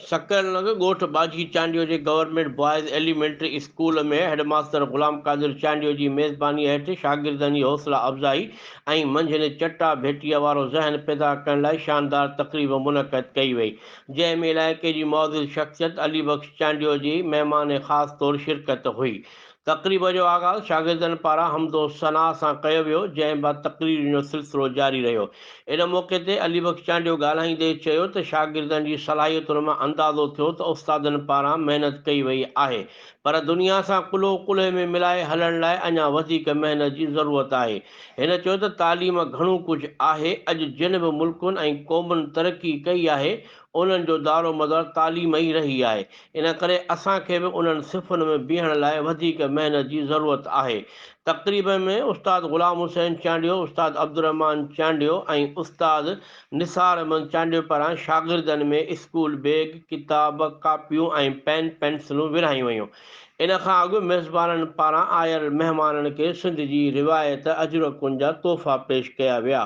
سکر لڳ ڳوٺ ٻاجهي چانڊيو جي government boys elementary school ۾ headmaster Ghulam Qadir Chandio جي ميزباني هيٺ شاگردن جي حوصلا افزائي ۽ منجهند چٽا ڀيٽيء وارو ذهن پيدا ڪرڻ لاء شاندار تقريب منعقد ڪئي وئي. جنهن ۾ علائقي جي معزز شخصيت علي بخش چانڊيو جي مهمان خاص طور شرڪت هئي. تقريب جو آغاز شاگردن پاران حمد و ثنا سان ڪيو ويو جنهن بعد تقريرن جو سلسلو جاري رهيو. ان موقعي تي علي بخش چانڊيو ڳالهائيندي چيو ته شاگردن جي صلاحيتن مان اندازو ٿيو ته استادن پاران محنت ڪئي وئي آهي پر دنيا سان ڪلهو ڪلهي ۾ ملائي هلڻ لاء اڃا وڌيڪ محنت جي ضرورت آهي. هن چيو ته تعليم گهڻو ڪجهه آهي، اڄ جن به ملڪن ۽ قومن ترقي ڪئي آهي، انهن جو دارومدار تعليم ئي رهي آهي، ان ڪري اسان کي به انهن صفن ۾ بيهڻ لاء وڌيڪ محنت جي ضرورت آهي. تقريب ۾ استاد غلام حسين چانڊيو، استاد عبدالرحمان چانڊيو ۽ استاد نثار احمد چانڊيو پاران شاگردن ۾ اسڪول بيگ، ڪتاب، ڪاپيون ۽ پين پينسلون ورهايون ويون. ان کان اڳ ميزبانن پاران آيل مهمانن کي سنڌ جي روايت اجرڪن جا تحفا پيش ڪيا ويا.